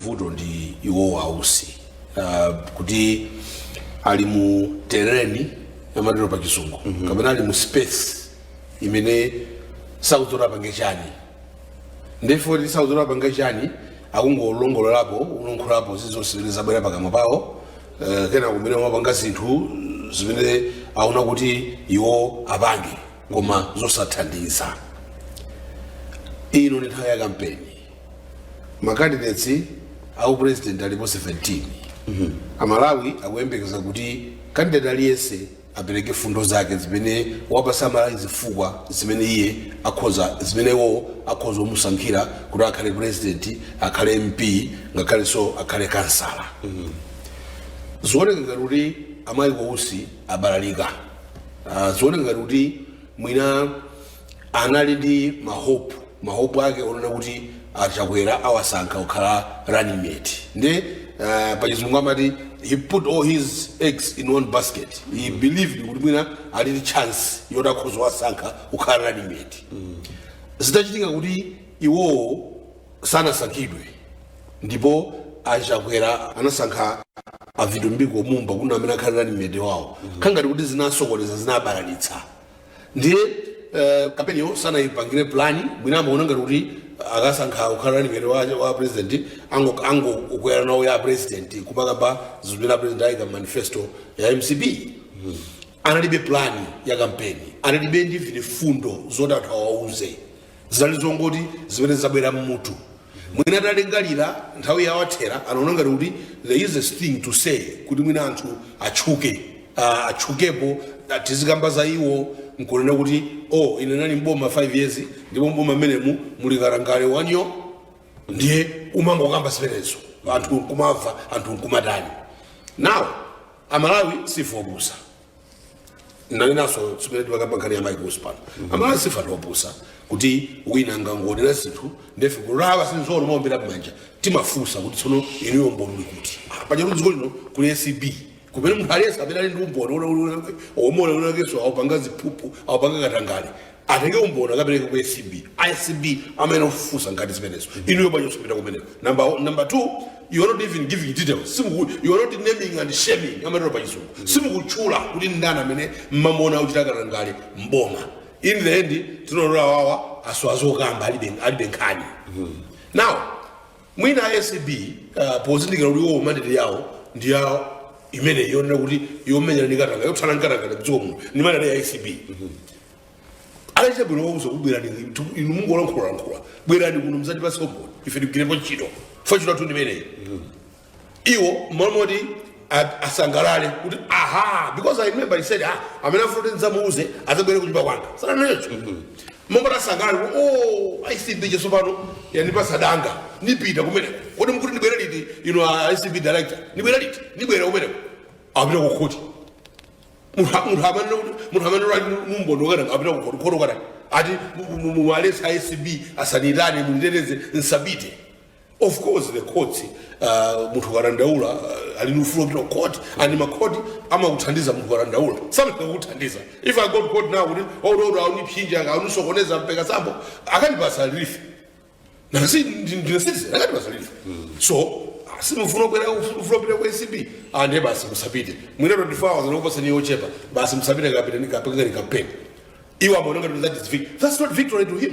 vuto ndi iwowo ausi uh, kuti ali mu terrain amatero pa chizungu mm -hmm. kapena ali mu space imene sakudziwa apange chani nde poti sakudziwa apange chani akungolongololapo kulankhulapo zilizonse zimene zabwera pakamwa pawo uh, kenako kumene amapanga zinthu zimene aona kuti iwo apange koma zosathandiza ino ndi nthawi ya kampeni macandidates a upresident alipo 17 amalawi akuyembekeza kuti kandidati aliyense apereke fundo zake zimene awapatsa amalawi zifukwa zimene iye akhoza zimene iwowo akhoza kumusankhira kuti akhale president akhale mp ngakhalenso akhale kansala zioneka ngati kuti a Mike Usi abalalika Ah, zioneka ngati kuti mwina anali ndi mahope mahope ake onena kuti achakwera awasankha kukhala running mate nde uh, pachizungu amati he put all his eggs in one basket he believed kuti mwina ali ndi chance yoti akhoza kuwasankha kukhala running mate zitachitika kuti iwowo sanasankhidwe ndipo achakwera anasankha avitumbiko mumba kuti amene akhale running mate wawo zikukhala ngati kuti zinasokoneza zinabalalitsa ndiye eh, kampeniyo sanayipangire plani mwina amaona ngati kuti akasankha kukhala running mate wa, wa president ango- angokwera nawo ya president kumakamba zinthu zimene president ayika mu manifesto ya mcp analibe plani ya kampeni analibe ndi mfundo zoti anthu awauze zinali zongoti zimene zabwera mmutu mwina atalingalira nthawi yawathera anaona ngati kuti the easiest thing to say kuti mwina anthu atchuke ah, atchukepo ah, tizikamba za iwo nkunena kuti oh ine ndinali mboma 5 years ndipo mboma mmenemu muli katangale wanyo ndiye umangokamba zimenezo anthu nkumamva anthu nkumatani nawo amalawi sife opusa ndanenanso mmene timakamba nkhani ya mike usi pano amalawi sife opusa kuti wina akangonena zinthu nde ife basi tizingomuwombera mmanja timafunsa kuti tsono inuyo umboni uli kuti paja kuti dziko lino kuli acb kumene munthu aliyense amene ali ndi umboni kuti wina wakenso akupanga ziphuphu akupanga katangale atenge umboni akapereke ku acb acb ndi amene ofufuza ngati zimenezo inuyo bwanji osapita kumeneko number, one- number two you are not even giving details simuku you are not naming and shaming amatero pa chizungu simukutchula kuti ndani amene mmamona akuchita katangale mboma in the end tinaona awawa asowa zokamba alibe alibe nkhani now Mwina a acb pozindikira kuti iwowo mandate yawo ndi ya imene yonena kuti yomenyana ndi katangale yothana ndi katangale mdziko muno ndi mandate ya acb akachita bwino wauza kuti bwerani tu- inu mungolankhulalankhula bwerani kuno mudzatipatse umboni ife tikagwirepo ntchito zochitatu ndimeneyi iwo mmalo moti a- asangalale kuti aha because i remember he said ah amene afuna kuti ndidzamuuze adzabwere kunyumba kwanga sananenso mmalo moti asangalale kuti oh acb ija tsopano yandipasa danga nipita kumeneko kodi mkuti ndibwere liti inu a acb director ndibwere liti ndibwere kumeneko apita kukhoti munthu munthu amene munthu amene ali mumboni wakana apita kukhoti khoti kukanena kuti muwaletse acb asanitane munditeteze nsapite of course the courts uh, munthu ukadandaula uh, ali ndi ufulu wopita ku court and makhoti amakuthandiza munthu ukadandaula samakana kukuthandiza if i go to court now kuti wodala auniopseza aunisokoneza mpakatseni bwino akandipasa relief ngati ndine citizen akandipasa relief so simufuna kubwera ufuna kupita ku acb ande basi musapite mwina 24 hours ndikuposa ni yochepa basi musapite kapitilizeni kapangeni campaign iwo amaona ngati that is victory that's not victory to him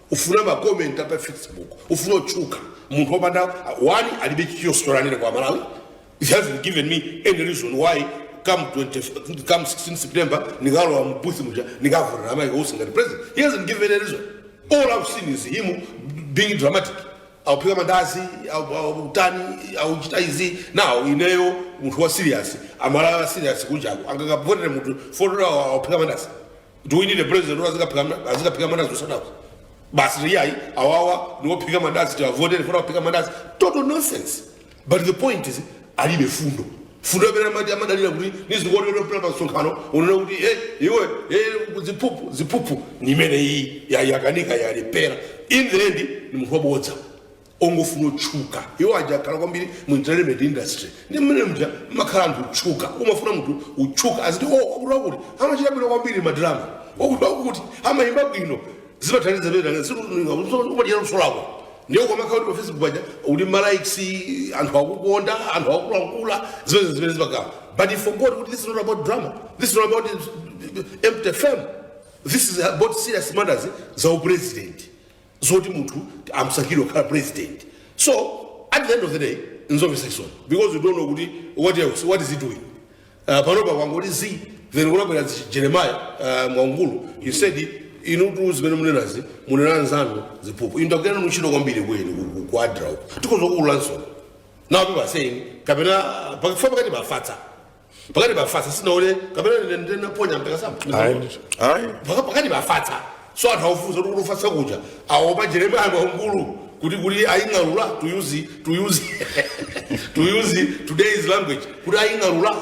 ufuna ma comment apa facebook ufuna kutchuka munthu opanda plan alibe choyenera kwa malawi he hasn't given me any reason why come 20, come 16 september nikalowa mbuthi muja nikavotere a michael usi ngati president he hasn't given any reason all i've seen is him being dramatic auphika mandazi au- au- utani auchita izi nde ineyo munthu wa serious amalawi a serious kunjaku angakavotere munthu poti awo auphika mandazi do we need a president who azikaphika mna- azikaphika mandazi kusadako basi iyayi awawa niwophika mandazi tiwavotere poti awaphika mandazi total nonsense but the point is alibe fundo fundo amene amati amadalira kuti niziyankhulira pa msonkhano unena kuti e iwe e ziphuphu ziphuphu ni imene iyi yayakanika yalephera in the end ni munthu wabodza ongofuna kutchuka iwo aja akhala kwambiri mu entertainment industry ndi mmene muja mumakhala anthu otchuka umafuna munthu utchuke aziti o wakuti wakuti amachita bwino kwambiri madrama wakuti wakuti amayimba bwino zimathandiza pena si umadya luso lako ndiye ukamakhala kuti pa facebook apa uli ndi malikes anthu akukonda anthu akulankhula zimene zimene zimakhala but he forgot kuti this is not about drama this is not about empty fame this is about serious matters za upresident zoti anthu amsankhire kukhala president so at the end of the day nzomvetsa chisoni because you don't know kuti what else what is he doing uh, panopa kwangoti zi then kunabwera zi- jeremiah uh, mwangulu he said inutu zimene munenazi munena nzanu ziphuphu inu ndagwira nanu ntchito kwambiri ku eni ku adra uko tidzakuululaninso na upi pa saying kapena pachifuwa pakati mufatse pakati pa fasa sindinaone kapena ndine ndine naponya mpaka sama ayi ndithu ayi Paka- pakati pa fasa so anthu akufunsa kuti ufatsa kuja aopa jeremaya kwamkulu kuti kuti aying'alula to use to use to use today's language kuti aying'alula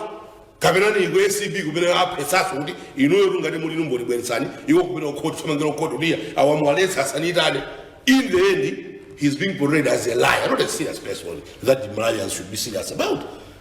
kapena ni ku acb kumene apezanso kuti inuyo tungati muli numboli bweretsani iwo kumene kukhoti samangire kukhoti udiya awamuwaletsa asanitane in the end he's being portrayed as a liar not a serious person that malawians should be serious about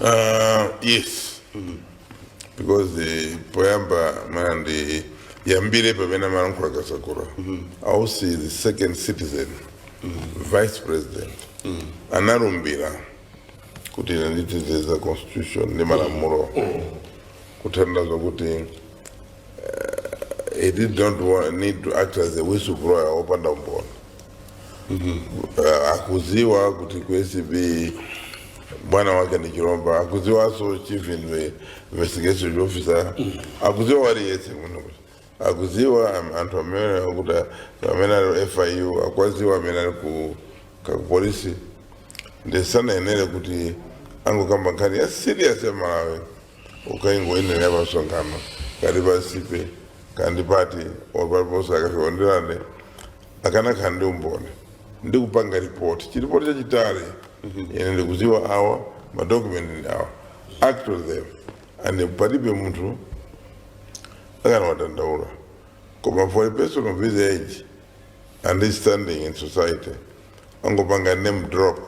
Uh, yes because poyamba mwina ndiyambire pamene amalankhula Kasakula Usi the second citizen vice president analumbira kuti ine nditezeza constitution ndi malamulo kutanthauza kuti he did not wa- need to act as a whistleblower opanda umboni uh, akudziwa kuti ku acb bwana wake ni Chilomba akudziwanso chief inve- investigation officer akudziwa wina aliyense muno akudziwa am- anthu amene akuti amene ali fiu akuwadziwa amene ali ku ka- ku polisi nde sanayenere kuti angokamba nkhani ya serious ya malawi kukangoinenera pa msonkhano kandipatse pa kandipati opaliponso akafeonderane akanakhala ndi umboni ndi kupanga ripoti chiripoti chachitali ine ndikudziwa awa madokumenti ndi awa act on them and palibe munthu akanawadandaula koma for a person of his age and his standing in society angopanga name drop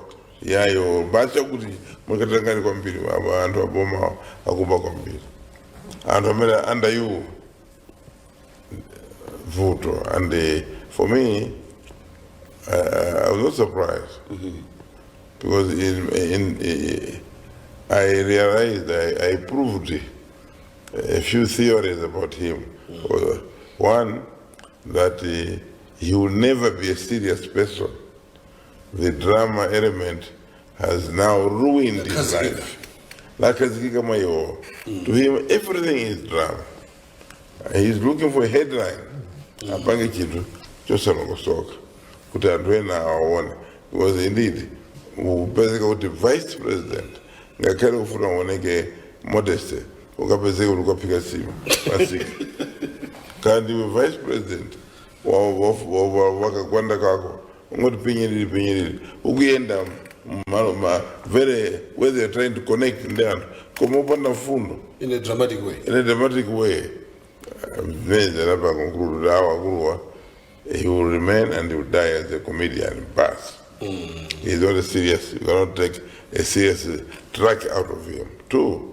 yayo basi akuti mwakatangani kwambiri aba anthu aboma akuba kwambiri anthu amene under you vuto and eh, for me uh, i was not surprised because in, in, eh, i realized i, I proved a few theories about him Uh, one that eh, he will never be a serious person The drama element has now ruined his life. Yakhazikika mwa iwowo. To him, everything is drama. He's looking for a headline. Apange chinthu chosalongosoka kuti anthu ena awaone. Because indeed, upezeka kuti vice president ngakhale ufuna uoneke modeste ukapezeka kuti ukaphika nsima pamsika kandi vice president wa- wa- wa- wa- wa kagwanda kako ungoti pinyiriri pinyiriri ukuyenda mmalo ma very where they are trying to connect ndi anthu koma opanda mfundo in a dramatic way in a dramatic way ndiye uzapanga conclude kuti awa akuluwa he will remain and he will die as a comedian basi he's not a serious you cannot take a serious track out of him two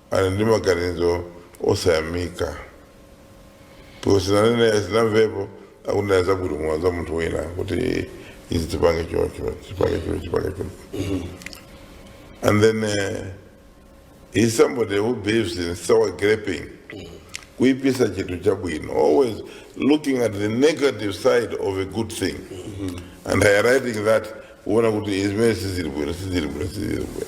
ali ndi maganizo osayamika ndipo sinanene sinamvepo akunena zabwino koma za munthu wina kuti izi tipange choncho tipange choncho tipange choncho and then uh, he's somebody who believes in sour graping kuipisa chinthu chabwino always looking at the negative side of a good thing and highlighting that kuona kuti zimene sizili bwino sizili bwino sizili bwino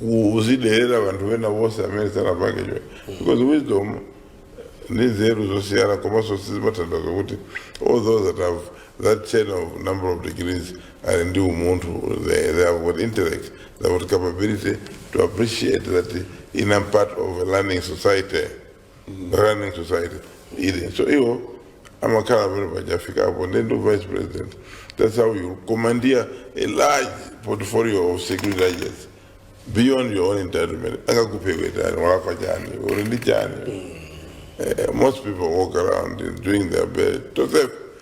kuziderera vanthu vena vonse amene sanapange che because wisdom ndi nzeru zosiyana komanso sizimathandaza kuti all those that have that chain of number of degrees ali ndi umunthu they, they have got intellect they have got capability to appreciate that I am part of a learning society learning society ili so iwo amakhala pamene pachafikapo ndiye ndi vice president that's how you commandeer a large portfolio of security agents beyond your own entitlement angakuphe watani walakwa chani uli ndi chani Eh, most people walk around doing their best tosefe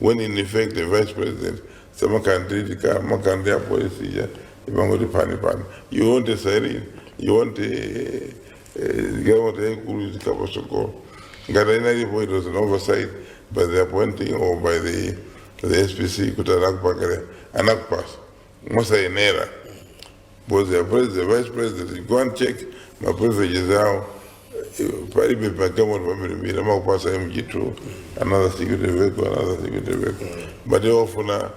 when in effect the vice president samakanditika makandi apolisi aja amangoti pani pani you want a siren you want a, a government yaikulu izikapasokolo ngati inalipo it was an oversight by the appointing or by the, the spc kuti anakupangira anakupasa mosayenera both the president, the vice president, go and check ma privileges awo. Palibe pa gawo pamene amakupasa mg2 another security vehicle another security vehicle but wofuna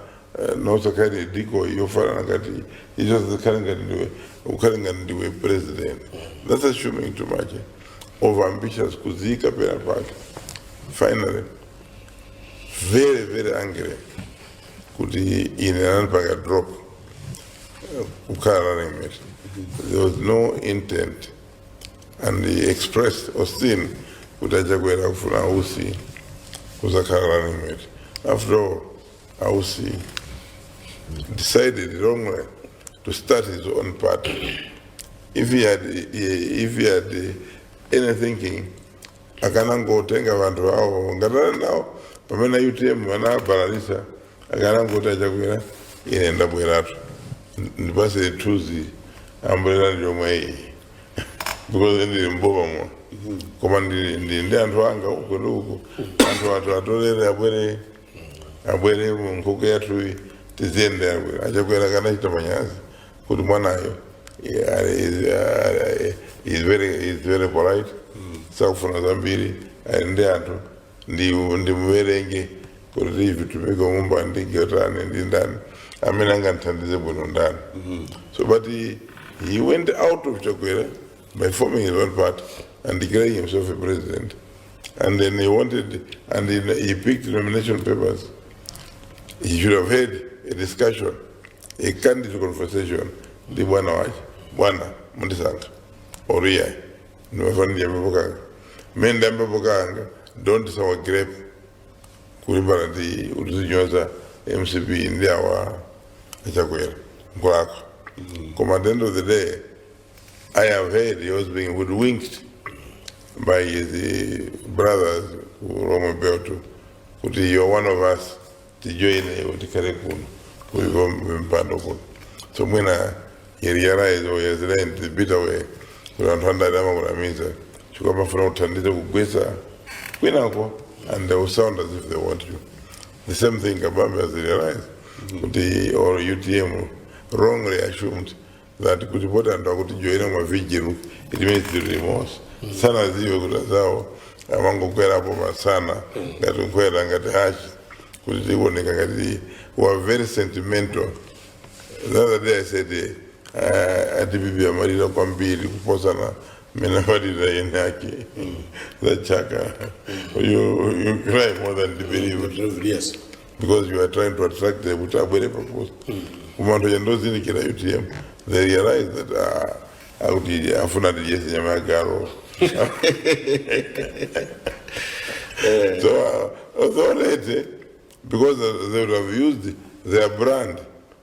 nosakali diko yofanana ngati icho zikhale ngati ndiwe ukhale ngati ndiwe president that's assuming too much of ambitious kudziika pena pake finally very very angry kuti ine anandipanga drop eh, kukhala running mate there was no intent and he expressed austin kuti achakwera kufuna ausi kuzakhala running mate after all ausi decided wrongly to start his own party if he had, if he had any thinking akanangotenga vanthu awo ngati anali nawo pamene utm anabalalitsa akanangoti achakwera ine ndabweratu ndipatseni tu ambulera ndiyomwe iyi because ndili mboma mwa koma ndili ndili ndi anthu anga uko ndi uko anthu athu atolere abwere abwere mu nkhokwe yathuyi tiziyendera achakwera akanachita manyazi kuti mwanayo eh, ali- is- eh, is very- is very polite sakufuna zambiri ali ndi anthu ndi- ndimuwerenge kuti tiwatumike mmboma ndi otani ndi ndani amene angandithandize bwino ndani so but he, he went out of chakwera by forming his own party and declaring himself a president and then he wanted and he, he picked nomination papers he should have had a discussion a candid conversation ndi bwana wake bwana mundisankha or else ine ndimafuna ndiyambepo kanga mmene ndiyambepo kanga don't sour grape kulimbana ndi utidzinyoza mcp ndi awa achakwera nkulako koma at the end of the day i have heard he was being hoodwinked by his eh, brothers ku Lomwe Belt kuti you are one of us tijoyine iwo tikhale kuno kuliko mpando kuno so mwina he realized or yazileni tipita way kuti anthu andale amakunamiza chifukwa amafuna uthandize kugwetsa kwinako and they will sound as if they want you the same thing kabambe has realized kuti or utm wrongly assumed that kuti poti anthu akutijoyina mma vijilu limezi limos sanadziwe kuti azawo amangokwerapo masana ngati nkhwera ngati hachi kuti tioneke ngati we are very sentimental the other day i said eh, uh, a dpp amalira kwambiri kuposana mmene amalira eni ake zachaka you, you cry more than the bereaved Yes. because you are trying to attract them kuti abwere pafupi koma anthu chandozindikira utm they realize that ah, akutifuna atidyetse nyama ya galu so uh, so late because they would have used their brand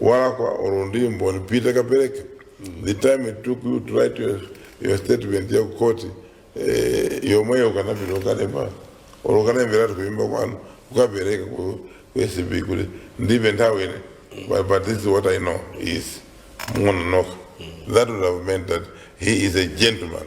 walakwa olo ndi mboni pita kapereke the time it took you to write your, your statement ya kukoti eh, yomweyo ukanapita kukalemba olo ukanayimbiratu kuyimba kwanu ukapereka ku ku acb kuti ndilibe nthawi ine but, but this is what i know musamangononoka that would have meant that he is a gentleman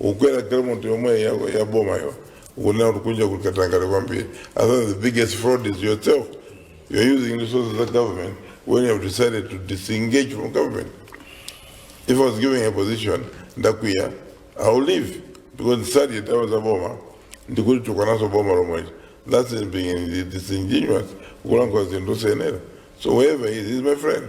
ukwera galimoto yomwe ya, ya boma yo ukunena kuti kunja kuli katangale kwambiri i think the biggest fraud is yourself you're using resources of government when you have decided to disengage from government if i was given a position ndakwiya i will leave because ndisadiye ndalama za boma ndikulitukwananso boma lomwecho that's it being disingenuous kulankhula zinthu senera so wherever he is, he is my friend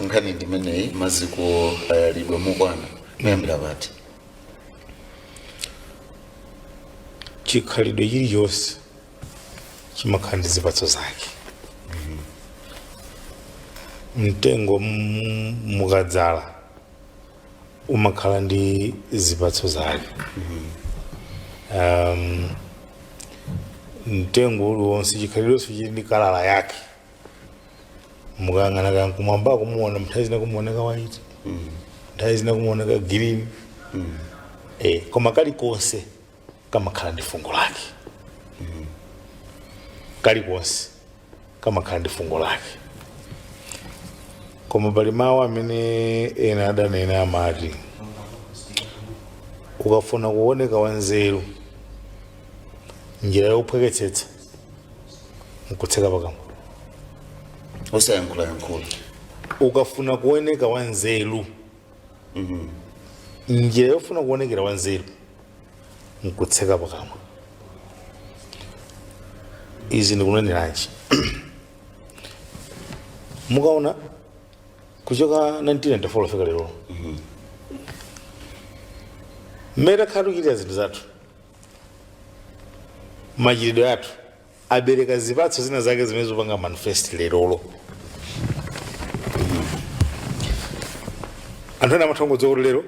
nkhani ndimeneyi maziko ayalidwa mokwana kuyambira poti chikhalidwe chilichonse chimakhala ndi zipatso zake mtengo m- mukadzala umakhala ndi zipatso zake um, mtengo uliwonse chikhalidwenso chili ndi kalala yake mukayang'ana kaya kumwambako kumaona nthawi zina kumaoneka waiti nthawi zina kumaoneka girini eh, koma kalikonse kamakhala ndi fungo lake kalikonse kamakhala ndi fungo lake koma pali mawu amene ena adanena amati ukafuna kuoneka wanzeru njira yophweketsetsa nkutseka pakamwa osayankhulayankhula ukafuna kuoneka wanzeru njira yofuna kuonekera wanzeru nkutseka pakamwa izi ndikuneneranji mukaona kuchoka 1994 kufika lero mmene takhala tikuchitira zinthu zathu machitidwe athu abereka zipatso zina zake zimene zikupanga manifest lerolo anthu ena amatha kungodziwa kuti lero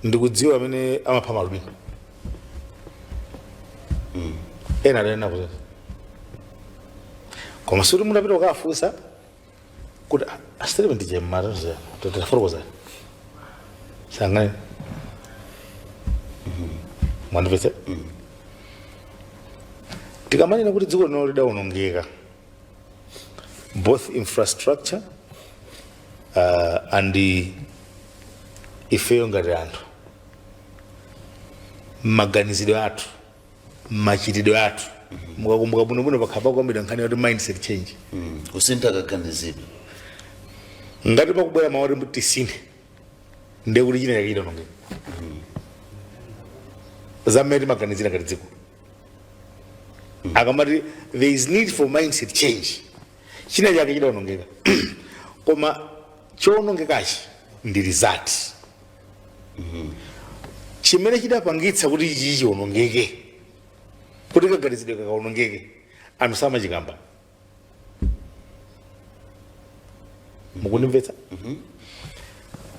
ndikudziwa amene amapha maalubino ena adanena kuti koma sikuti mutapita kukafunsa kuti asiteropo ndiye amatidziwa tatifotokozerani sangani mwandipese tikamanena kuti dziko lino lidawonongeka both infrastructure uh, and the ifeyo ngati anthu maganizidwe athu machitidwe athu mukakumbuka bwinobwino pakhala pakukambidwa nkhani yoti mindset change Mm. kusintha kaganizidwe ngati pakubwera mawu oti tisinthe ndiye kuti china chake chidaonongeka za mmene timaganizira ngati dziko akamati there is need for mindset change china chake chidaonongeka koma chowonongekachi ndi result chimene chidapangitsa kuti ichi chiwonongeke kuti kaganizidwe kakawonongeke anthu samachikamba mukundimvetsa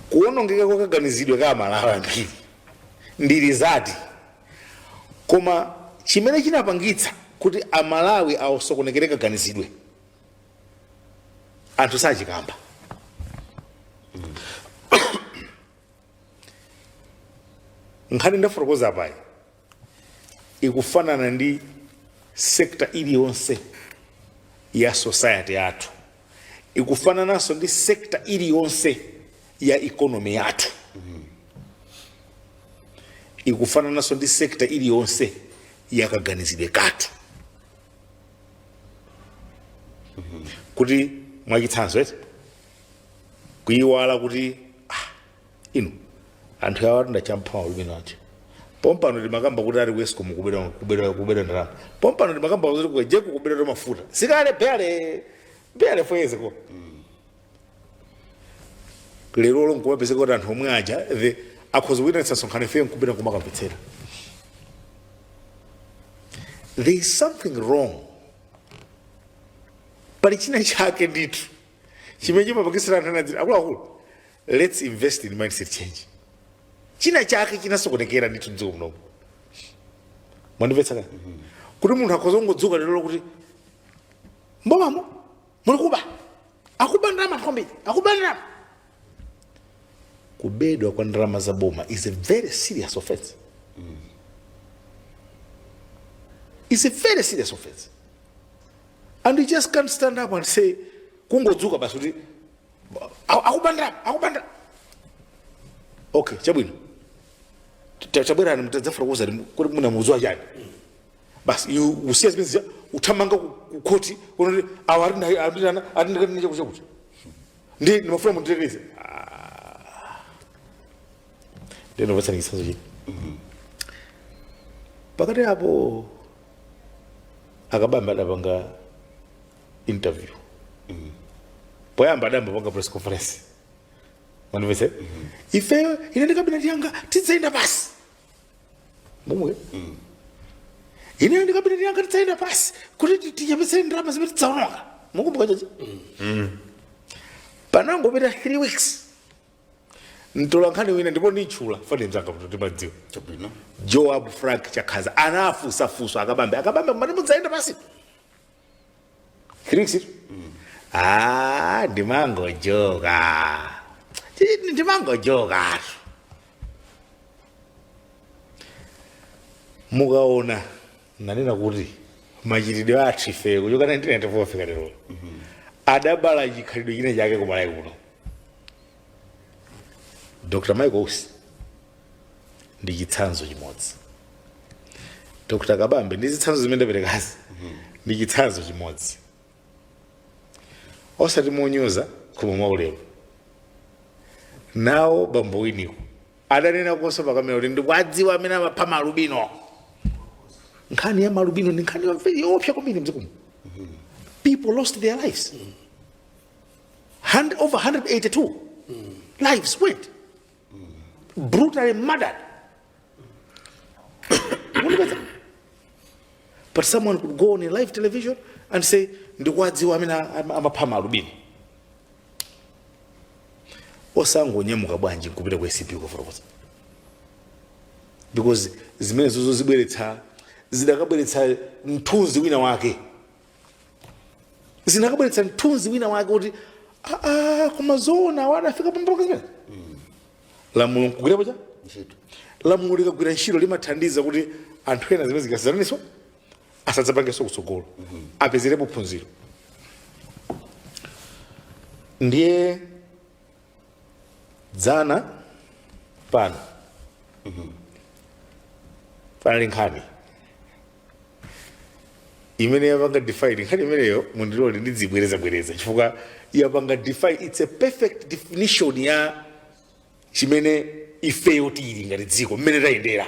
kuwonongeka kwa kaganizidwe ka amalawi ambiri ndi result koma chimene chinapangitsa kuti amalawi asokonekere kaganizidwe anthu sachikamba nkhani ndafotokoza apayi ikufanana ndi sekta iliyonse ya society yathu ikufanananso ndi sekta iliyonse ya ikonomi yathu ikufanananso ndi sekta iliyonse ya kaganizidwe kathu kuti mwachitsanzo eti kuyiwala kuti ah, inu anthu awa atonda champhawa lumino ache pompano timakamba kuti ali ku escom kukubedwa ndalama pompano timakamba zoti ku egenco kubedwa mafuta sikale bale bale foyezeko lero lo nkumapezeka kuti anthu omwe aja the akhoza kuitanitsa msonkhano ifeyo nkupita kumakamvetsera there is something wrong pali china chake ndithu chimene chimapangitsa anthu anzeru akuluakulu let's invest in mindset change china chake chinasokonekera ndithu mdziko munomu mwandimvetsa kaya kuti munthu akhoza kungodzuka lero kuti m'bomamo mulikuba akuba ndalama anthu ambiri akuba ndalama kubedwa kwa ndalama za boma is a very serious offense is a very serious offense and you just can't stand up and say kungodzuka basi kuti "A- akuba ndalama akuba ndalama okay chabwino Ta- tabwerani mudzafotokoze kuti mumadziwa chani basi iwe usiya zimene zija uthamanga ku- ku khoti kuti awa atinena atinena kuti chakuti chakuti ndi ndimafuna munditeteze nde ndikupatsani chitsanzo china pakati apo a Kabambe adapanga interview poyamba adayamba apanga press conference mundimvetse ifeyo ine ndi kabineti yanga tidzayenda pansi momwe ineyo ndi kabineti yanga tidzayenda pansi kuti ti- tichepetsere ndalama zimene tidzaononga mukukumbuka choncho panangopita 3 weeks mtola nkhani wina ndipo nditchula dzina mzanga kuti timadziwa chabwino joab frank chakhaza anafunsa funso a Kabambe a Kabambe mumati mudzayenda pansi Kirikisiro? Ah, ndimangojoka. Ndi- Ndimangojoka. Mukaona nanena kuti machitidwe athu ife kuchoka 1994 kufika lero adabala chikhalidwe china chake ku Malawi kuno dr michael usi ndi chitsanzo chimodzi dr kabambe ndi zitsanzo zimene ndaperekazi ndi chitsanzo chimodzi osati monyoza koma mwaulemu nawo abambo winiko adanena kuonso pakamera kuti ndikuwadziwa amene amapha maalubino nkhani ya maalubino ndi nkhani yomvera yoopsa kwambiri mdziko muno people lost their lives And, over 182 lives were brutally murdered. but someone could go on a live television and say, ndikuwadziwa amene am- amapha malubino osangonyamuka bwanji nkupita ku acb kufotokoza because zimenezozo zibweretsa zidakabweretsa mthunzi wina wake zinakabweretsa mthunzi wina wake kuti aa koma zoona awa adafika pambalambanda zimene lamulo nkugwirapo chani ntchito lamulo likagwira ntchito limathandiza kuti anthu ena zimene zochititsa manyazizo asadzapangenso kutsogolo apezerepo phunziro ndiye dzana pano panali nkhani imene yapanga define nkhani imeneyo mundilole ndidzibwerezabwereza chifukwa yapanga define its a perfect definition ya chimene ifeyo tili ngati dziko mmene tayendera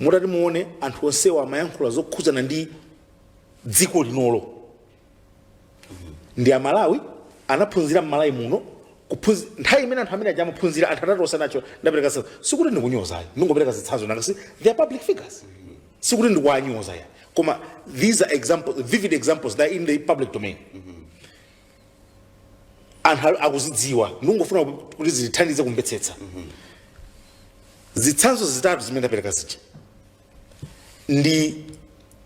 mutati muone anthu onsewa amayankhula zokhudzana ndi dziko linolo ndi amalawi anaphunzira mmalawi muno kuphunzi- nthawi imene anthu amene aja amaphunzira anthu atatu osanawo ndapereka zitsanzo sikuti ndikunyoza ayi ndingopereka zitsanzo nanga si they are public figures sikuti ndikuwanyoza ayi koma these are examples vivid examples that are in the public domain anthu ali- akuzidziwa ndikungofuna ku- kuti zitithandize kumvetsetsa zitsanzo zitatu zimene ndapereka zija ndi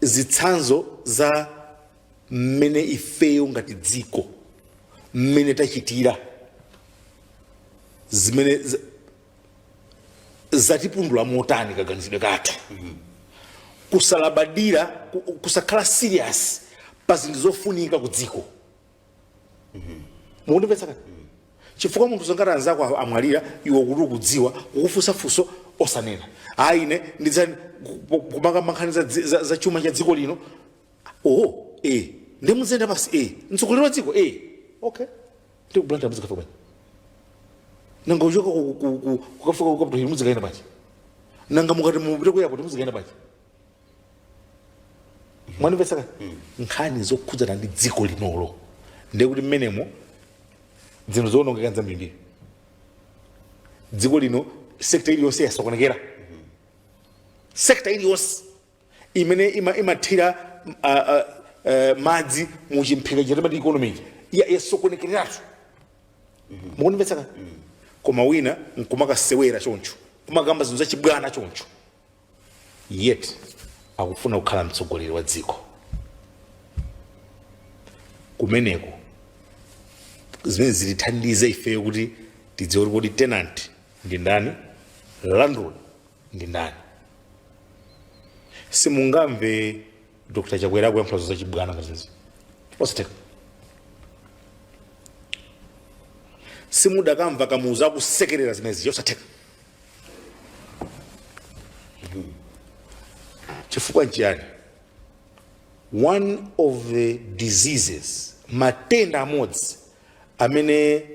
zitsanzo za mmene ifeyo ngati dziko mmene tachitira zimene z- zatipundula motani kaganizidwe kathu kusalabadira kusakhala serious pa zinthu zofunika ku dziko mukundimvetsa kani chifukwa munthu zoona ngati anzako a- amwalira iwe kuti ukudziwa kukufunsa funso osanena ayi ine ndidzanena kumakamba nkhani za, dzi- za, za chuma cha dziko lino oho eh ndimuzenda basi eh mtsogoleri wa dziko eh okay ndi ku blantyre mudzikafika bwanji nanga uchoka ku- ku- ku- kukafika ku capital hill mudzikaenda bwanji nanga mukati mupite ku airport mudzikaenda bwanji mwandimvetsa ka nkhani zokhudzana ndi dziko linolo ndekuti mmenemo zinthu zoonongeka nzambirimbiri dziko lino sekta iliyonse yasokonekera sekta iliyonse imene ima- imathira mm, a- a- eh, madzi mu chimphika chija timati economy ya- yasokonekeratu mukundimvetsa koma wina nkumakasewera choncho kumakamba zinthu zachibwana choncho yet akufuna kukhala mtsogoleri wa dziko kumeneko zimene zitithandiza ifeyo kuti tidziwe kuti kodi tenant ndi ndani landlord ndi ndani simungamve dr chakwera akuyankhula za chibwana ngati izi zosatheka simudakamva kamuzu akusekerera zimenezi zosatheka chifukwa nchiyani one of the diseases matenda amodzi amene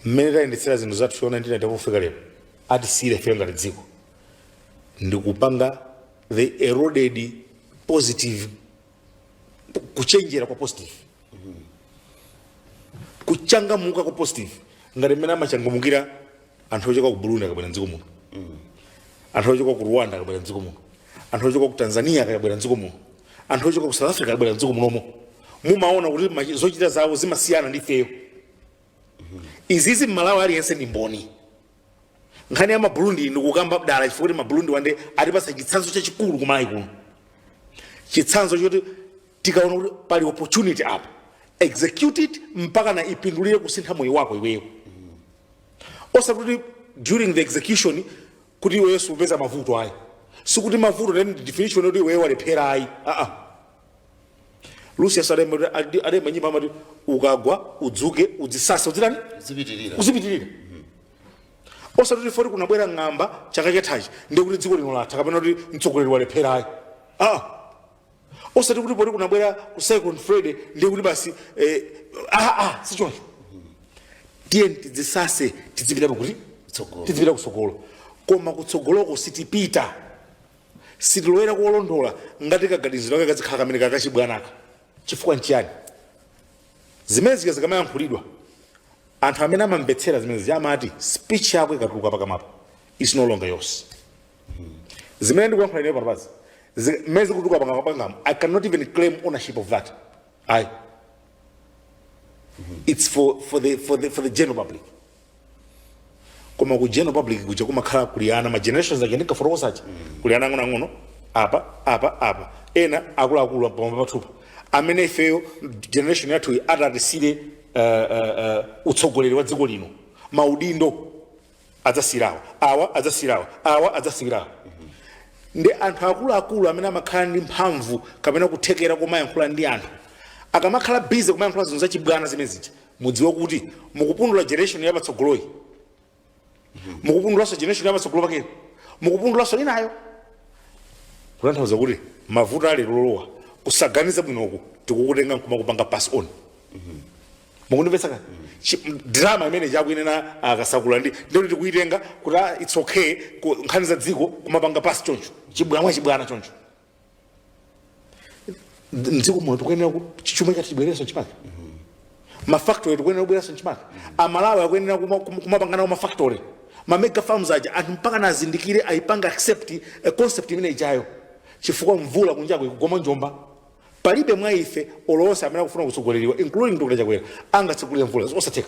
mmene tayendetsera zinthu zathu from 1994 pofika lero atisiyire ife ngati dziko ndikupanga they eroded positive kuchenjera kwa positive kuchangamuka kwa positive ngati mmene amachangamukira anthu ochoka ku burundi akabwera mdziko muno anthu ochoka ku rwanda akabwera mdziko muno anthu ochoka ku tanzania akabwera mdziko muno anthu ochoka ku south africa akabwera mdziko muno mumaona kuti machi- zochita zawo zimasiyana ndi ifeyo izizi mmalawi aliyense ndi mboni nkhani ya maburundi ndikukamba dala chifukwa kuti maburundi wa nde atipatsa chitsanzo chachikulu kumalawi kuno chitsanzo choti tikaona kuti pali opportunity apo execute it mpaka na ipindulire kusintha moyo wako iweyo osati kuti during the execution kuti iweyo supeza mavuto ayi sikuti mavuto ndiye definition yoti iweyo walephera ayi aa lucius adayimba kuti- adi- adayimba nyimbo amati ukagwa udzuke udzisase udzitani uzipitirira uzipitirira osati kuti poti kunabwera ng'amba chaka chathachi ndikuti dziko lino latha kapena kuti mtsogoleri walephera ayi aa osati kuti poti kunabwera ku cyclone freddy ndiye kuti basi eh, ah, ah, sichoncho tiyeni tidzisase tidzipita pa kutsogolo tidzipita kutsogolo koma kutsogoloko sitipita sitilowera kuolondola ngati kaganizidwe kake kazikhala kamene kakachibwanaka chifukwa nchiyani zimene zija zikamayankhulidwa anthu amene amamvetsera zimene zija amati speech yako ikatuluka pakamapo is no longer yours zimene ndikuyankhula ineyo pano pazi mmene zikutuluka pakamwa pangapa i cannot even claim ownership of that ayi it's for, for, the, for, the, for the general public koma ku general public kuja kumakhala kuli ana ma generations aja ndikufotokoza aja kuli ana ang'onoang'ono apa apa apa ena akuluakulu pamwamba pathupa amene ifeyo generation yathuyi atatisiire uh, uh, uh, utsogoleri wa dziko lino maudindo adzasiyira awa awa adzasiyira awa awa adzasiyira awa ndi anthu akuluakulu amene amakhala ndi mphamvu kapena kuthekera komayankhula ndi anthu akamakhala bize kumayankhula zinthu zachibwana zimene zija mudziwe kuti mukupundula generation yapatsogoloyi mukupundulanso generation yapatsogolo pakeyo mukupundulanso inayo kutanthauza kuti mavuto akulowa kusaganiza bwinoku tikukutenga nkumakupanga pass on mukundimvetsa kani Chi- m- drama imene chakuyenera akasakula ndi ndio tikuyitenga kuti ah, it's okay ku- nkhani za dziko kumapanga pasi choncho chibwanwa chibwana choncho Ndi- mdziko muno tikuyenera ku- chi- chuma chathu chibwererenso chimake mafactory tikuyenera kubwereranso chimake amalawi akuyenera kuma- kuma- kumapangana ku mafactory mamega farms aja anthu mpakana azindikire ayipange accept concept imene ijayo chifukwa mvula kunjako ikugwa mwa njomba Palibe mwa ife olo onse amene akufuna kutsogoleredwa including Dr Chakwera angatsegulire mvula zosatheka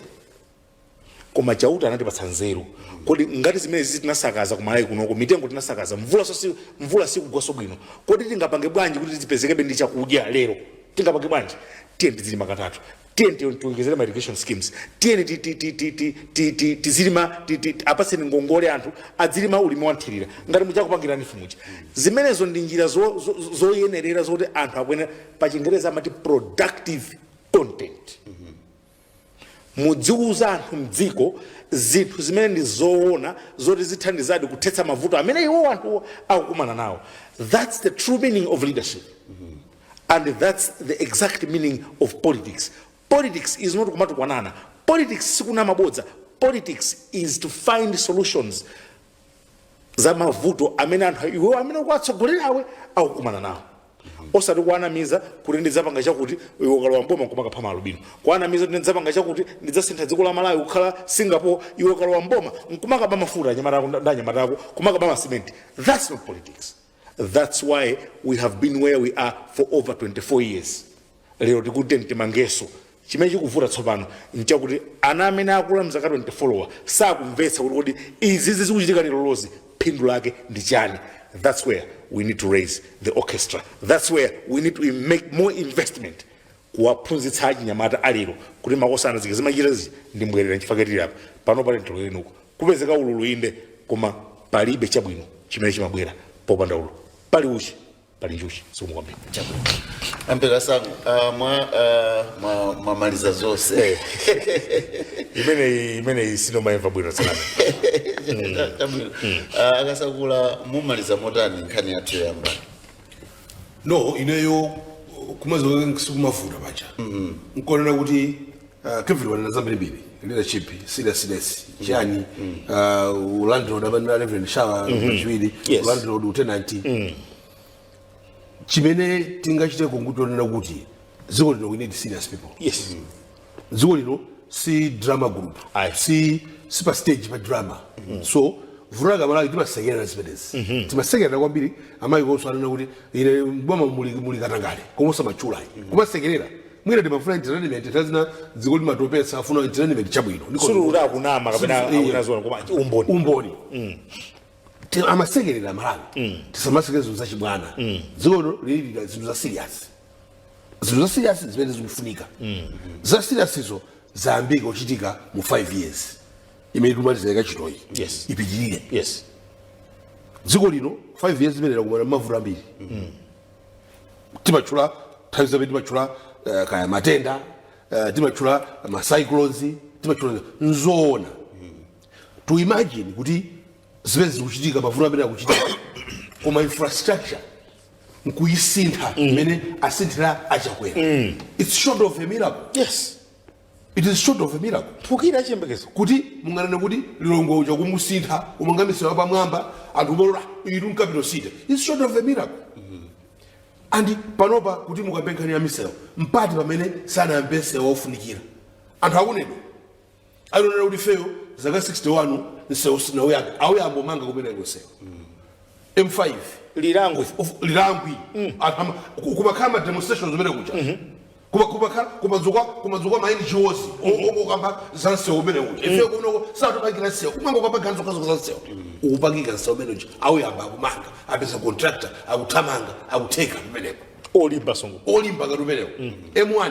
koma Chauta anatipatsa nzeru kodi ngati zimenezizi tinasakaza kumalawi kunoko mitengo tinasakaza mvulanso si mvula sikugwanso bwino kodi tingapange bwanji kuti tizipezekebe ndi chakudya lero tingapange bwanji tiyeni tidzilima katatu tiyeni ti- tiwonjezere ma irrigation schemes tiyeni ti- ti- ti- ti- ti- ti- ti- tizilima ti- ti- ti- apatseni ngongole anthu adzilima ulimi wanthirira ngati muja akupangira a Vitumbiko zimenezo ndi njira zo- zo- zo- zoyenerera zoti anthu akuyenera pa chingereza amati productive content mudziwauza anthu mdziko zinthu zimene ndi zoona zoti zithandizadi kuthetsa mavuto amene iwo anthu akukumana nawo that's the true meaning of leadership and thats the exact meaning of politics politics is not kumatukwanana politics sikunama bodza politics is to find solutions za mavuto amene anthu iwewo amene ukuwatsogolerawo akukumana nawo osati kuwanamiza kuti ndidzapanga chakuti iwe ukalowa mboma kumakapha maalubino kuwanamiza kuti ndidzapanga chakuti ndidzasintha dziko la malawi kukhala singapore iwe ukalowa mboma nkumakaba mafuta anyamata ako ndi anyamata ako kumakaba masimenti thats not politics That's why we have been where we are for over 24 years. Lero tikuti tiyeni timangenso chimene chikuvuta tsopano nchakuti ana amene akula mzaka 24wa sakumvetsa kuti kodi izizi zikuchitika lerolozi phindu lake ndi chani. That's where we need to raise the orchestra. That's where we need to make more investment kuwaphunzitsa achinyamata alero kuti makosana zija zimachitika zija ndi mbwerera nchifukwa chake tili apa pano panopa lero tiloleni kupezeka ululu inde koma palibe chabwino chimene chimabwera popanda ululu pali uchi pali njuchi zikomo kwambiri ampera sangu ah, mwa ah, mwa- mwamaliza zonse imeneyi imeneyi sindimayimva bwino tsanana Chabwino. Ah, akasakula mumaliza motani nkhani yathuyi Yambani no ineyo kumaziko sikumavuta paja nkunena kuti ah, kevin wanena zambirimbiri leadership seriousness chani ah, ulandlord amene na reverend shawa pachiwiri Yes. ulandlord utenanti chimene tingachite kungotonena kuti dziko lino we need serious people yes dziko lino si drama group Ayi. si si pa stage pa drama so vuto la malawi timasekerera zimenezi timasekerera kwambiri amayikonso anena kuti ine mboma muli muli katangale koma osamatchula kumasekerera mwina timafuna entertainment nthawi zina dziko limatopesa timafuna entertainment chabwino Ndiko- sikuti akunama kapena Sulu- iya. akunena zoona koma umboni umboni Ti- amasekerera malawi tisamasekerera zinthu zachibwana dziko lino lili zinthu za serious zinthu zasiriyasi zimene zikufunika zasiriyasizo zayambika kuchitika mu 5 years imene tikumaliza ikatichitoyi Yes. ipitirire yes dziko lino 5 years imene lakumana mmavuto ambiri timatchula nthawi zambiri timatchula eh, kaya matenda eh, timatchula macyclones timatchula nzoona to imagine kuti zimene zikuchitika mavuto amene akuchitika koma infrastructure nkuyisintha mm. imene mm. asinthira achakwera mm. its short of a miracle yes it is short of a miracle tikhale chiyembekezo kuti munganene kuti lilongwe uja kumusintha kumanga misewu pamwamba anthu umalora iru mkapito site its short of a miracle mm -hmm. and panopa kuti mukapita nkhani ya misewu mpati pamene sanayambe misewu yofunikira anthu akunena alionera kuti ifeyo zaka 61 msewu sinauyambe auyamba kumanga umene msewu m5 lilango of- of- lilangwi Anthu ama- ku- kumakhala ma demonstrations umene kuja Kuma- kumakhala- kumadzuka kumadzuka ma ngos okamba za msewu umene uja ife kumeneko sutupangika msewu kumanga ukapanga zokhazokha za msewu ukupangika msewu umene uja auyamba akumanga apeza contractor akuthamanga akutheka kumeneko olimba msewu olimba ngati umenewo m1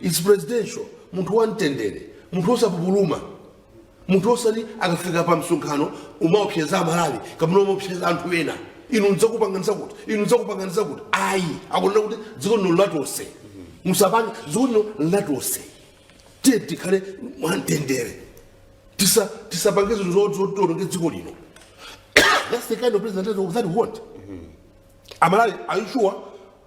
its presidential munthu wamtendere munthu osapupuluma munthu osati akafika pa msonkhano kumaopseza amalawi kapena kumaopseza anthu ena inu ndidzakupanganiza kuti inu ndidzakupanganiza kuti ayi akunena kuti dziko lino latonse musapange dziko lino latonse tiyeni tikhale mwamtendere tisa tisapange zinthu zo- zo- zoononge dziko lino that's the kind of president that we want amalawi are you sure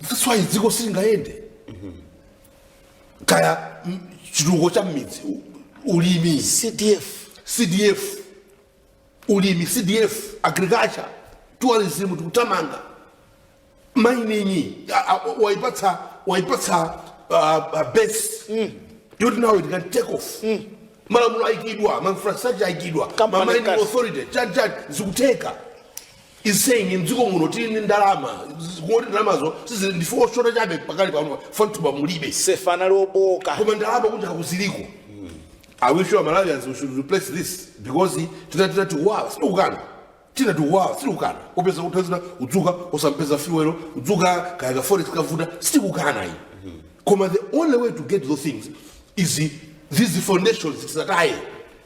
That's why dziko silingayende kaya mm, chitukuko cha mmidzi u- ulimi cdf cdf ulimi cdf agriculture tourism tikuthamanga mining a- a- waipatsa waipatsa uh, uh, base yoti nawo it can take off malamulo aikidwa ma infrastructure aikidwa ma Company mining cars. authority chani chani zikutheka is saying mdziko muno tili ndi ndalama z- kungoti ndalamazo sizili ndife oshota chabe pakali pano fantaba mulibe sefa anali obooka koma ndalama kunja kuziliko i wish you malawians we should replace this because zina zina ziwawa sitikukana tina tiwala sitikukana upeza kuthazina udzuka usampeza fuelo udzuka kaya ka forest kavuta sitikukana iyi koma the only way to get those things is these foundations tisataye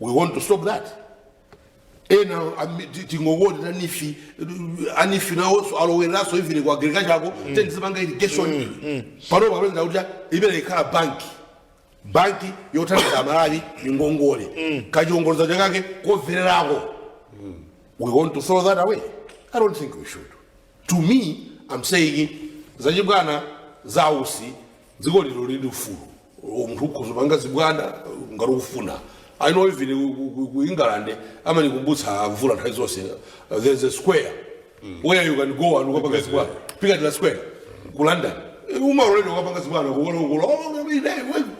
we want to stop that ena ami- ti- tingowona a NEEF a NEEF nawonso alowereranso even ku agriculture ako tinkazimanga irrigation panopa apeza kuti imene ikhala banki banki yothandiza aMalawi ngongole kachiongoladzanja kake komverako we want to throw that away i don't think we should to me am saying zachibwana za Usi dziko lino lili ndi ufulu munthu ukhoza panga zibwana ngati ukufuna i know even ku- ku- ku- ku england amanikumbutsa mvula nthawi zonse uh, there's a square where you can go and ukapanga zibwana piccadilly square ku london umaloledwa ukapanga zibwana kulongolola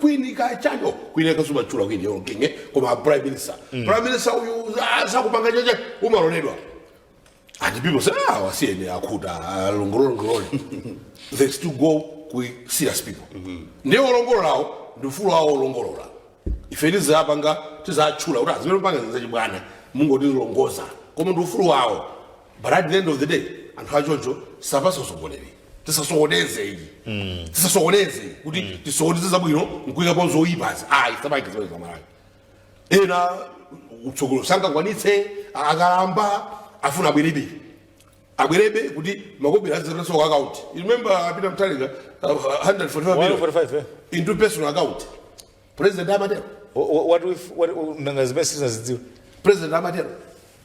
kwini kachanjo kwine kaya umatchula kwini kaya kingi koma prime minister prime minister uyu ah, sakupanga chacha umaloledwa And people say, ah, awa si ine akuti, ah, longolola longolola. They still go kwi serious people. Ndiye olongololawo, ndi ufulu wawo olongololawo. Ife tizapanga, tizachula, kuti azimene panga zizachibwana, mungo tizilongoza. Koma ndi ufulu wawo. But at the end of the day, anthu achocho sangatisokoneze. Tisasokoneze ayi. Tisasokoneze kuti tisokoneze zabwino nkuika pamodzi zoyipazi. Ayi, sabaike zimene zamalayo. ena kutsogolo sangakwanitse akalamba afuna abwerebe abwerebe kuti makobiri azipitanso ku account You remember a Peter Mutharika uh, 145 million 145 eh? into personal account president amatero Wha- wha- what if- what- nanga zimene sitinazidziwe president amatero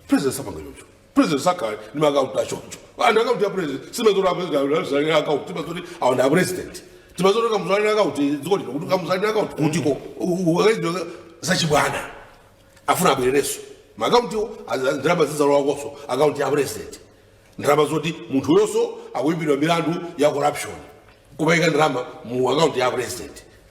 president sapanga chocho president sakhale ndi maakaunti achoncho and akaunti ya president sitimadziwa kuti apresident akaunti timazoti awa ndi apresident timazoti kamuzalira akaunti dziko lino kuti kamuzalira akaunti kutiko akayesedwa zachibwana afuna abwererenso maakauntiwo ndalama zizilowakonso akaunti ya president ndalama zoti munthu uyonso akuimbidwa milandu ya corruption kumaika ndalama mu akaunti ya president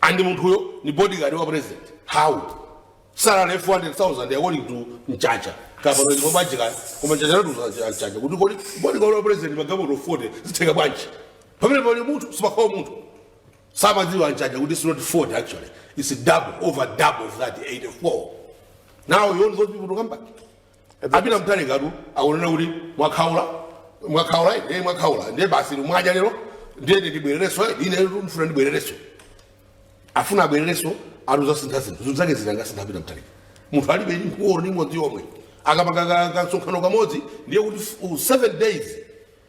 and munthuyo ni bodyguard wa president how salary 400000 according to mchacha kapano ndipo bwanji kaya koma mchacha latu mchacha kuti kodi bodyguard wa president magalimoto 40 zitheka bwanji pamene pali munthu si pakhomo munthu samadziwa mchacha kuti it's not 40 actually it's double over double of that 84 now you want those people to come back apita mtalikatu akunena kuti mwakhaula mwakhaula ine mwakhaula ndiye basi mwadya lero ndiye ndibwerereso ine ndifuna ndibwerereso afuna abwerereso akuzasintha zinthu zinthu zake zingasinthe apita mtalika munthu alibe mfuwu ndi imodzi yomwe akapanga ka- ka- kasonkhano kamodzi ndiye kuti f- u- seven days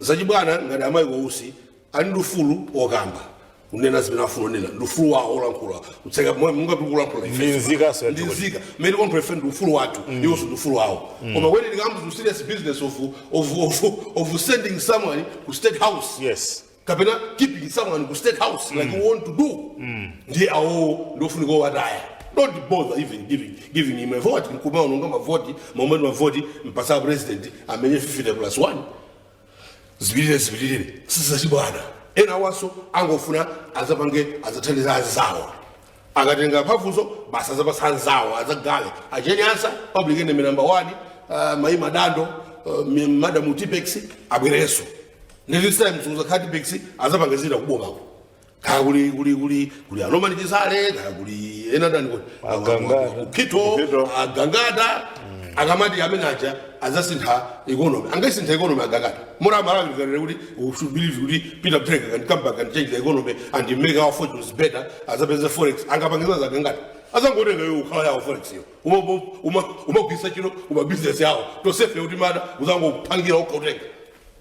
Zachibwana ngati amayi wa Usi ali ndi ufulu wokamba kunena zimene afuna kunena ndi ufulu wawo olankhula kutseka mwa- munga tikulankhula ife. Ndi nzikaso ya m'dziko nzika mmene kwathu ife ndi ufulu wathu iwonso ndi ufulu wawo koma when it comes to serious business of, of, of, of sending someone ku state house yes kapena keeping someone ku state house like you want to do ndiye awowo ndiofunika owataya don't bother even giving, giving him a vote nkumaononga mavoti momwe mavoti kumpasa president amenye 50 plus 1 zipitirire zipitirire sizachibwana ena awaso angofuna azapange azathandize azawo akatenga mphamvuzo basi azapasa anzawo azagale a Cheni Anasa public enemy number 1 uh, mayi madam uh, mi- madam tipex abwerenso ndi this time suza khatipex azapanga zina kubomako kaya kuli kuli kuli kuli a Norman Chisale kaya kuli ena ndani kuti Agangata. ukito Ukito. agangata akamati amene aja azasintha economy angaisintha economy agangata mura malawi kanene kuti we should believe kuti Peter Mutharika can come back and change the economy and make our fortunes better azapeza forex angapangiza zagangata azangotenga yo ukhala yawo forex yo Uma- uma- uma- kumagwisa ntchito ku mabizinesi awo tosefe kuti mada azangopangira okha kutenga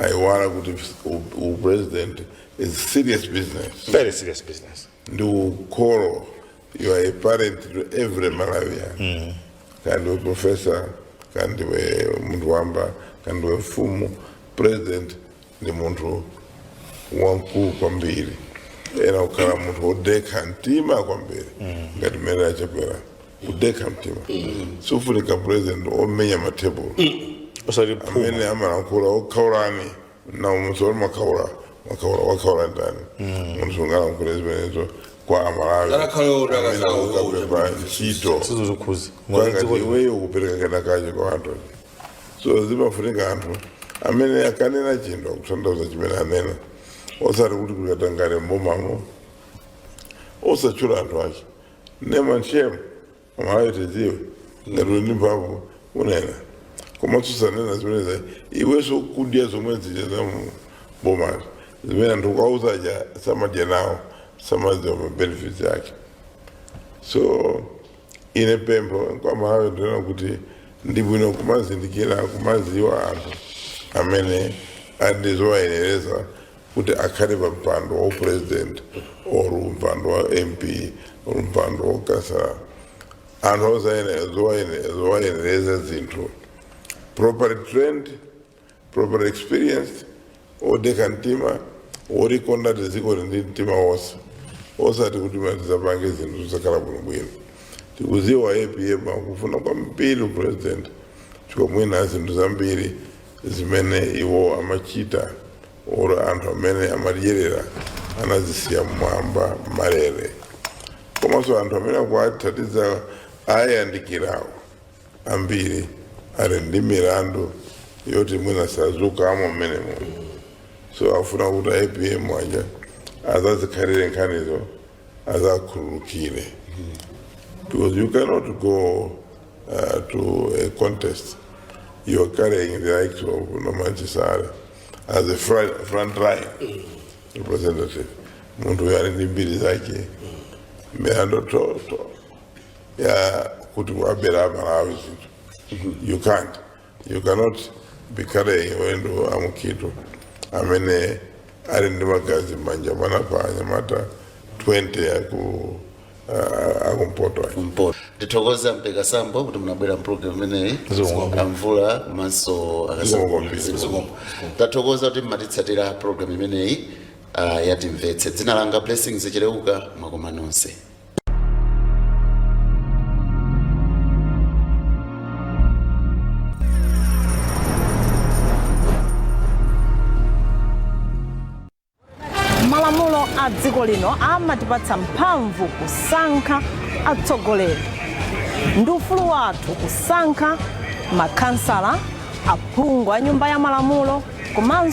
aiwala kuti u- u president is serious business very serious business ndi ukholo you are a parent to every malawian kaya ndiwe professor kaya ndiwe munthu wamba kaya ndiwe mfumu president ndi munthu wamkulu kwambiri oyenera kukhala munthu wodekha mtima kwambiri ngati mmene a Chakwera kudekha mtima sifunika president omenya matebulo osati phuma amene amalankhula okhaulani n'na munthu wati mwakhaula mwakhaula wakhaula ndani munthu sungalankhule zimenezo kwa amalawi Ngakhale uti amene akakhala uti. akapempha ntchito sizo zikhuza kwangati iweyo kupereka kenakake kwa anthu so zimafunika anthu amene akanena chinthu akutanthauza chimene anena osati kuti kuli katangale mbomamo osatchula anthu ache name and shame amalawi tidziwe ngati uli ndi mphamvu kunena koma susanena zimenezo iwenso kudya zomwe zija za mu- bomazo zimene anthu kwauza aja samadya nawo samadziwa mabenefits ake so ine pempho kwa Amalawi ndinena kuti ndi bwino kumazindikira kumaziwa anthu amene ali ndi zowayenereza kuti akhale pa mpando wa upresident or mpando wa mp or mpando wa ukhansala anthu ozayenera zowayenera zowayenereza zinthu properly trained properly experienced odekha mtima olikonda dziko ndi mtima wonse osati kuti mwati tizapange zinthu zosakhala bwinobwino tikuziwa apm akufuna kwambiri upresident chifukwa mwina zinthu zambiri zimene iwo amachita or anthu amene amadyerera anazisiya mmwamba malere komanso anthu amene akuwathandiza awayandikirawo ambiri ali ndi milandu yoti mwina sazuka mommuno so afuna kuti apm mwina azazikhalire nkhanizo azawakhululukire because you cannot go uh, to a contest you're carrying the likes of norman chisale as a front, front line representative munthu uyo ali ndi mbiri zake milandu yoti ya kuti wabera amalawi zinthu you can't You cannot be carrying wina Mukhito amene ali ndi magazi m'manja mana pa anyamata 20 aku uh, akumpoto ayi. mpoto ndithokoze a Mpeka Sambo kuti munabwera mpulogalamu imeneyi Zikomo. amvula komanso Zikomo. akasazikombo tathokoza kuti mmatitsatira pulogalamu imeneyi ah, yatimvetse dzina langa blessings cheleuka mwakomatu nonse malamulo a dziko lino amatipatsa mphamvu kusankha atsogoleri ndi ufulu wathu kusankha makhansala aphungu a nyumba ya malamulo komanso